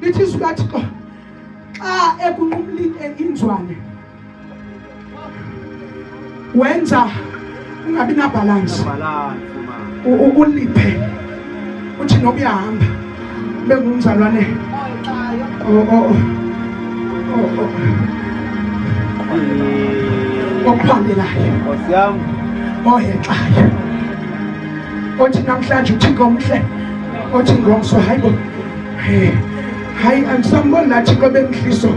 lithi izwi lathixo xa ekunqumlile inzwane wenza ungabi nabhalansi uliphe uthi noba uyahamba ube ngumzalwane okuphambelayo ohexayo othi namhlanje uthixo mhle othi ngomso hayi bo hey hayi andisamboni laa thixo bemhliso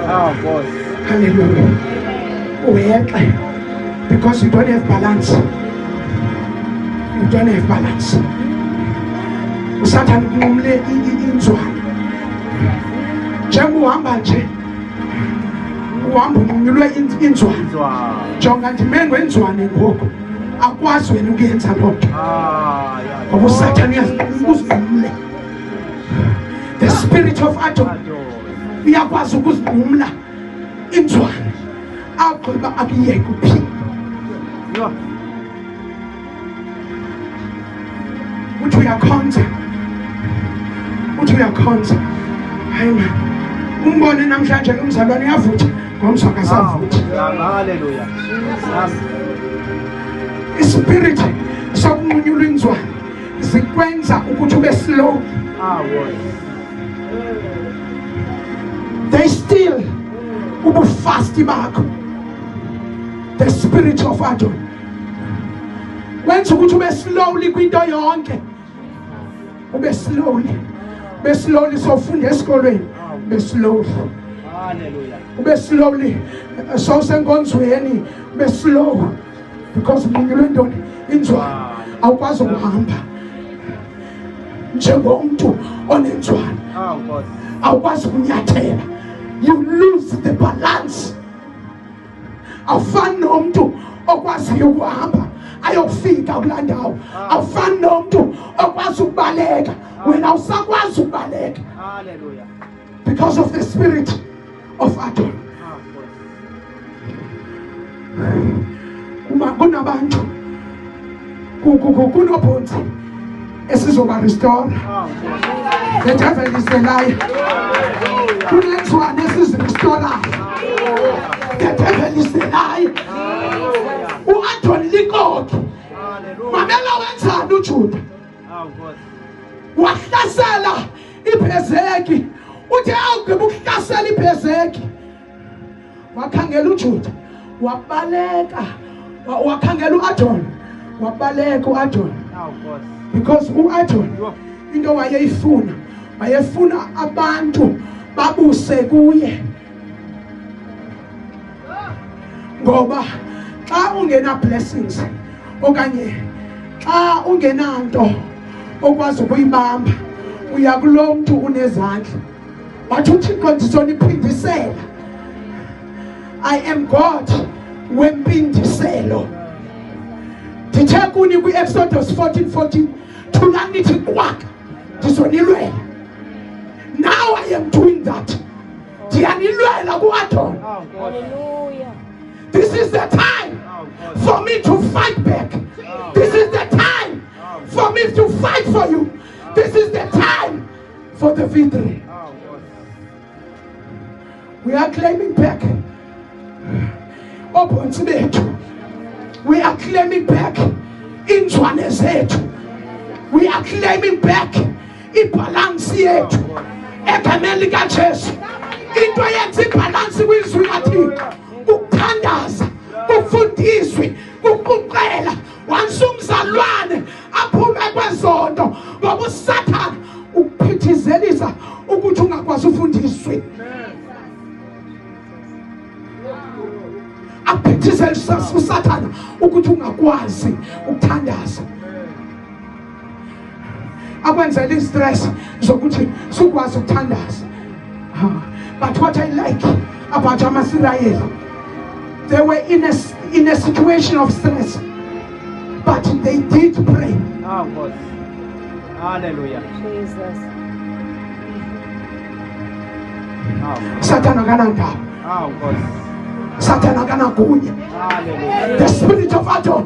ah, halleluya uyexe because you don't have balance you don't have balance usathane kunqumle inzwana njengoba uhamba nje uhamba unqunyulwe inzwana jonga ndimengwe inzwane ngoku akwazi wena ukuyenza loo nto ngoba usathane uyazikuzigumle the spirit of adam uyakwazi ukuzigumla inzwane agqiba akuyeke uphila uthi uyakhonza uthi uyakhonza hayi ma umbone namhlanje lo mzalwane uyavutha ngomso akasavuthi haleluya ispirit sokunqunyulwa inzwa zikwenza ukuthi ube slow they still ubufasti bakho the spirit of adon wenza ukuthi ube slowly kwinto yonke ube slowly ube slowly sofunda esikolweni ube slowly ube slowly sawusenkonzweni ube slow because nqunyulwe ntoni inzwana awukwazi ukuhamba njengomntu onenzwana awukwazi ukunyathela you lose the balance awufani nomntu okwaziyo ukuhamba ayokufika kulaa ndawo ah. awufani nomntu okwazi ukubaleka ah. wena usakwazi ukubaleka because of the spirit of adon ah, kunabantu kunobhonzi esizoba restore the devil is the liar kunenzwane esizirestorayo the devil is the liar u-antoni likoki mamela wenzani ujuda wahlasela ibhezeki uthe awugqiba ukuhlasela ibhezeki wakhangela ujuda wabaleka wakhangela uadon wabaleka uadon because uadon into wayeyifuna wayefuna abantu babuse kuye ngoba xa ungena blessings okanye xa ungenanto okwazi ukuyibamba uya kulo mntu unezandla wathi uthixo ndizoniphindisela i am god wempindiselo ndithe kuni kwi-exodus 14 14 thulani nithi kwaka ndizonilwela now i am doing that ndiyanilwela kuadon this is the time for me to fight back this is the time for me to fight for you this is the time for the victory. We are claiming back. Open to me. We are claiming back inzwane zethu we are claiming back ibhalansi yethu egameni likajesu into yenza ibhalansi kwizwi lathixo ukuthandaza kufundiswe kuquqela once umzalwane aphume kwezonto ngoba usathana ukuphithizelisa ukuthi ungakwazi ufundiswe akuphithizelisa usathana ukuthi ungakwazi ukuthandaza akwenzela istress zokuthi sikwazi ukuthandaza but what i like about amasirayeli they were in a, in a situation of stress but they did pray ah, Hallelujah. Jesus. Oh, Satan akanandaba. Oh, Satan akanagunya. The spirit of Adam